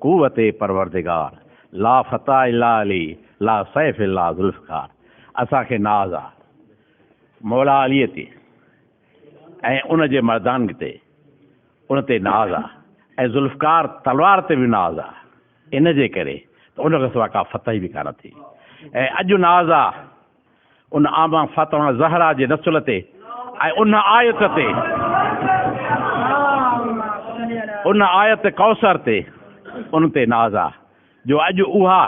قوت پروردگار، لا فتح الا علي، لا سيف الا ذوالفقار، اسان کي ناز آ مولا علي تي ۽ ان جي مردانگي تي، ان تي ناز آ ۽ ذوالفقار تلوار تي به ناز آ، ان جي ڪري ته ان کان سوا ڪا فتح به ڪانه ٿي ۽ اڄ ناز آ. ان آمان فاطمه زهرا جي نسل تي ۽ ان آيت تي ان آيت ڪوثر تي ان تي ناز آ جو اڄ اها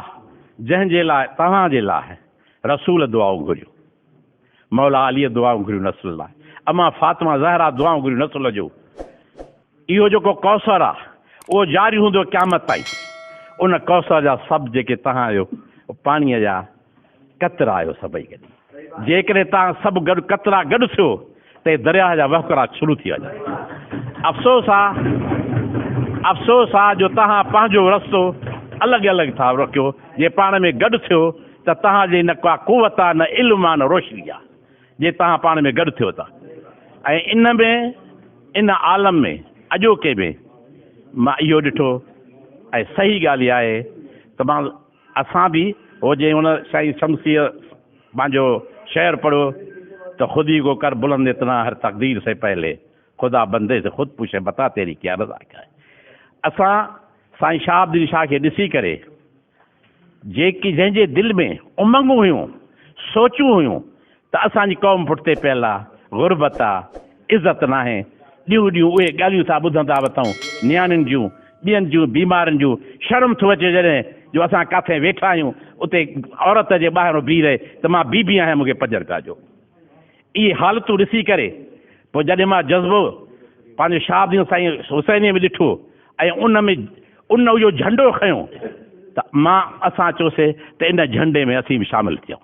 جنهن جي لاء توهان جي لاء رسول دعائون گهريون مولا علي دعائون گهريون نسل لاء امان فاطمه زهرا دعائون گهريون نسل جون اهو جيڪو ڪوثر آ، اهو جاري هوندو قيامت تائين. ان ڪوثر جا سڀ جيڪي توهان آهيو، پاڻيء جا قطرا آهيو سڀئي گڏي. جيڪڏهن توهان سڀ گڏ قطرا گڏ ٿيو ته هي درياهه جا وهڪرا شروع ٿي وڃن. افسوس آ، افسوس آ جو توهان پنهنجو رستو الڳ الڳ ٿا رکيو. جي پاڻ ۾ گڏ ٿيو ته توهان جي نه ڪا قوت آ، نه علم آ، نه روشني آ. جي توهان پاڻ ۾ گڏ ٿيو ٿا ۽ ان ۾ ان عالم ۾ اڄوڪي ۾ مان اهو ڏٺو ۽ صحيح ڳالهه اها آهي ته مان اسان به هو جي هن سائين شمسيء پنهنجو شعر پڙهيو ته خودي ڪو ڪر بلند اتنا هر تقدير سي پهلي خدا بندي سي خود پوڇي بتا تيري ڪيا رضا ڪيا اسان سائين شهاب الدين شاهه کي ڏسي ڪري جيڪي جنهن جي دل ۾ امنگون هيون، سوچون هيون ته اسان جي قوم پٺتي پيل آ، غربت آ، عزت ناهي، ڏينهون ڏينهون اهي ڳالهيون ٿا ٻڌن ته وتائون نياڻين جون، ٻين جون، بيمارن جون، شرم ٿو اچي جڏهن جو اسان ڪاٿي ويٺا آهيون اتي عورت جي ٻاهرون بيهي رهي ته مان بي بي آهيان مون کي پڄر پيا ڏيو. اهي حالتون ڏسي ڪري پوء جڏهن مان جذبو پنهنجو شاهه دين سائين حسينيء ۾ ڏٺو، ۽ ان ۾ ان اهو جهنڊو کنيو ته مان اسان چوسي ته ان جهنڊي ۾ اسين به شامل ٿيون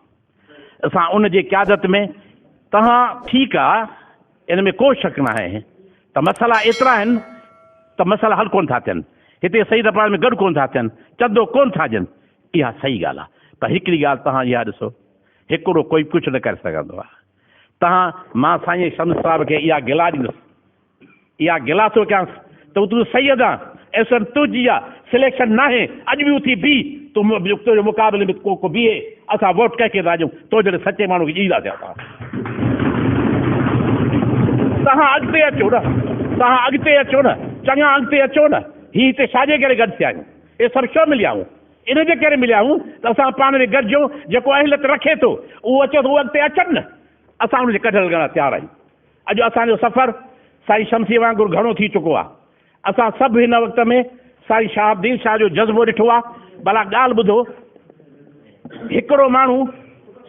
اسان ان جي قيادت ۾ تهان ٺيڪ آ ان ۾ ڪو شڪ ناهي ته مسئلا ايترا آهن ته مسئلا حل ڪونه ٿا ٿين هتي سيد اپرار ۾ گڏ ڪونه ٿا ٿين چندو ڪونه ٿا ڏين اها صحيح ڳالهه آ پر هڪڙي ڳالهه تهان اها ڏسو هڪڙو ڪوئي ڪجهه نه ڪري سگهندو آ تهان مان سائين شمس صاحب کي اها گلا ڏيندس اها گلا ٿو ڪيانس ته تون سيد آن ايسن تنهنجي اها سليڪشن ناهي اڄ به اٿي بيهه تون تنهنجي مقابلي ۾ ڪو ڪو بيهي اسان ووٽ ڪنهن کي ٿا ڏيون تو جهڙي سچي ماڻهو کي ڏيندا ٿيا اسان توهان اڳتي اچو نه توهان اڳتي اچو نه چڱا اڳتي اچو نه هي هتي ڇاجي ڪري گڏ ٿيا آهيون هي سڀ ڇو مليا آهيون ان جي ڪري مليا آهيون ته اسان پاڻ ۾ گڏجون جيڪو اهليت رکي ٿو اهو اچي ٿو اهو اڳتي اچن نه اسان ان جي ڪڍڻ لاء تيار آهيون اڄ اسان جو سفر سائين شمسيء وانگر گهڻو ٿي چڪو آهي. اسان سڀ هن وقت ۾ سائين شهاب الدين شاهه جو جذبو ڏٺو آهي. ڀلا ڳالهه ٻڌو، هڪڙو ماڻهو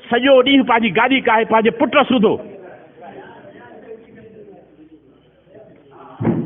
سڄو ڏينهن پنهنجي گاڏي ڪاهي پنهنجي پٽ سوڌو.